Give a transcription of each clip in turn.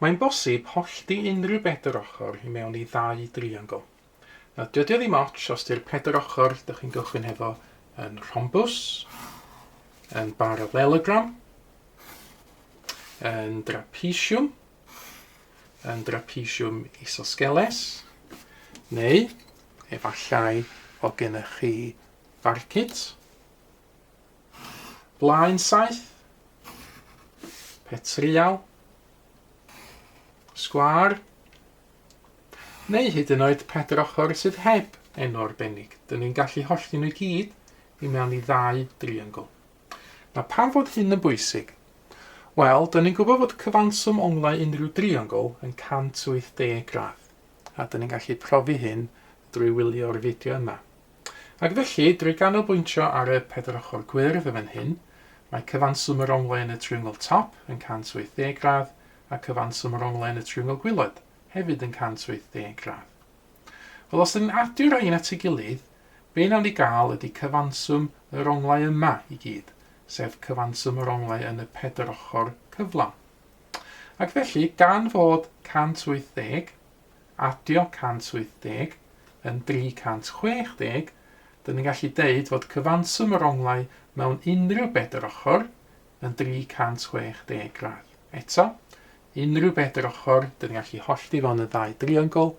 Mae'n bosib hollti unrhyw bedr ochr i mewn i ddau driongl. Nawr, dydi o ddim ots os di'r pedr ochr dych chi'n gychwyn hefo yn rhombws, yn baralelogram, yn drapesiwm, yn drapesiwm isosgeles, neu efallai bod gennych chi Farcit. Blaen saith. Petrial. Sgwar. Neu hyd yn oed pedr ochr sydd heb enw arbennig. Dyn ni'n gallu hollti nhw i gyd i mewn i ddau driangl. Na pam fod hyn yn bwysig? Wel, dyn ni'n gwybod fod cyfanswm onglau unrhyw driangl yn 180 gradd, a dyn ni'n gallu profi hyn drwy wylio'r fideo yma. Ac felly, drwy ganolbwyntio ar y pedair ochr gwyrdd yn fan hyn, mae cyfanswm yr onglau yn y triongl top yn 180 gradd a cyfanswm yr onglau yn y triongl gwaelod hefyd yn 180 gradd. Wel, os ydyn ni'n adio'r rhain at ei gilydd, be wnawn ni gael ydy cyfanswm yr onglau yma i gyd, sef cyfanswm yr onglau yn y pedair ochr cyflawn. Ac felly, gan fod 180 adio 170 yn 360, dan ni'n gallu deud fod cyfanswm yr onglau mewn unrhyw bedair ochr yn 360 gradd. Eto, unrhyw bedair ochr, dan ni'n gallu hollti fo'n y ddau driongl,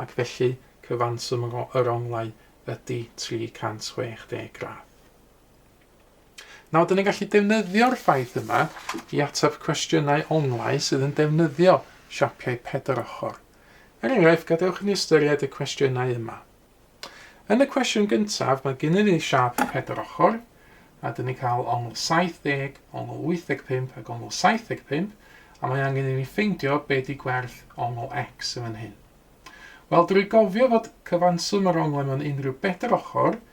ac felly cyfanswm yr onglau ydy 360 gradd. Nawr, dyn ni'n gallu defnyddio'r ffaith yma i ateb cwestiynau onglau sydd yn defnyddio siapiau pedair ochr. Er enghraifft, gadewch i ni ystyried y cwestiynau yma. Yn y cwestiwn gyntaf, mae gennym ni siap pedair ochr, a dyn ni'n cael ongl 70, ongl 85 ac ongl 75, a mae angen i ni ffeindio be di gwerth ongl x yn fan hyn. Wel, drwy gofio fod cyfanswm yr onglau mewn unrhyw bedair ochr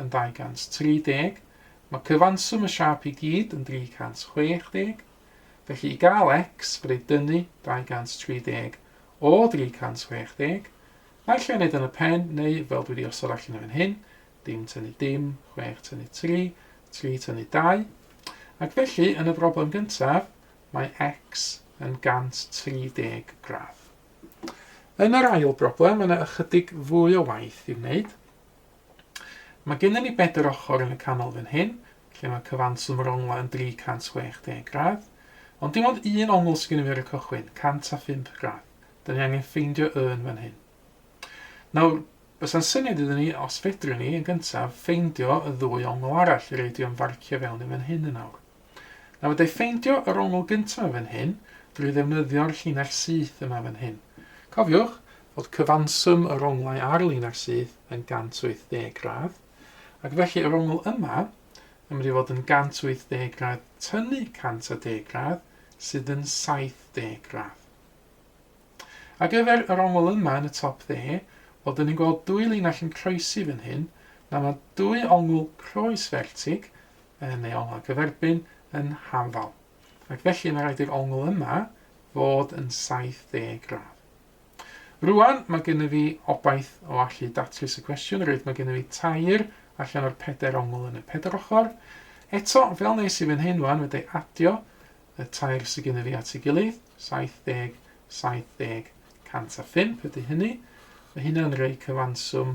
yn 230, mae cyfanswm y siâp i gyd yn 360, felly i gael x bydd ei dynnu 230 o 360, naill ai wneud yn y pen neu fel dwi wedi osod allan yn fan hyn, dim tynnu dim, 6 tynnu 3, 3 tynnu 2, ac felly yn y broblem gyntaf mae x yn 130 gradd. Yn yr ail broblem mae yna ychydig fwy o waith i'w wneud, Mae gennym ni bedair ochr yn y canol fan hyn, lle mae cyfanswm yr onglau yn 360 gradd. Ond dim ond un ongl sydd gennym ni ar y cychwyn, 105 gradd. Dyn ni angen ffeindio y yn fan hyn. Nawr, bysa'n syniad iddyn ni, os fedrwn ni, yn gyntaf, ffeindio y ddwy ongl arall, yr ei di o'n farcio fewn yn fan hyn yn awr. Nawr da i ffeindio yr ongl gyntaf fan hyn drwy ddefnyddio'r llinell syth yma fan hyn. Cofiwch fod cyfanswm yr onglau ar linell syth yn 180 gradd, ac felly yr ongl yma yn mynd i fod yn 180 gradd tynnu 110 gradd, sydd yn 70 gradd. Ar gyfer yr ongl yma yn y top dde, wel dyn ni'n gweld dwy linell yn croesi fan hyn, nawr mae dwy ongl croes fertig, yn ei ongl a gyferbyn yn haml, ac felly mae rhaid i'r ongl yma fod yn 70 gradd. Rwan, mae gennyf fi obaith o allu datrys y cwestiwn, reit, mae gennyf fi tair allan o'r pedair ongl yn y pedair ochr. Eto, fel nes i fan hyn rwan, wedi adio y tair sydd gennyf fi at ei gilydd, 70, 70, 105 ydy hynny. Mae hynna'n rhoi cyfanswm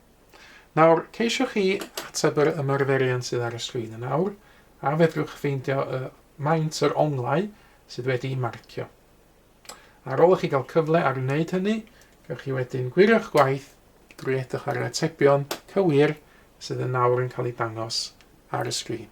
Nawr, ceisiwch chi ateb yr ymarferion sydd ar y sgrin yn awr, a fedrwch ffeindio y maint yr onglau sydd wedi'i marcio. Ar ôl i chi gael cyfle ar wneud hynny, gawch chi wedyn gwirio'ch gwaith drwy edrych ar yr atebion cywir sydd yn nawr yn cael eu dangos ar y sgrin.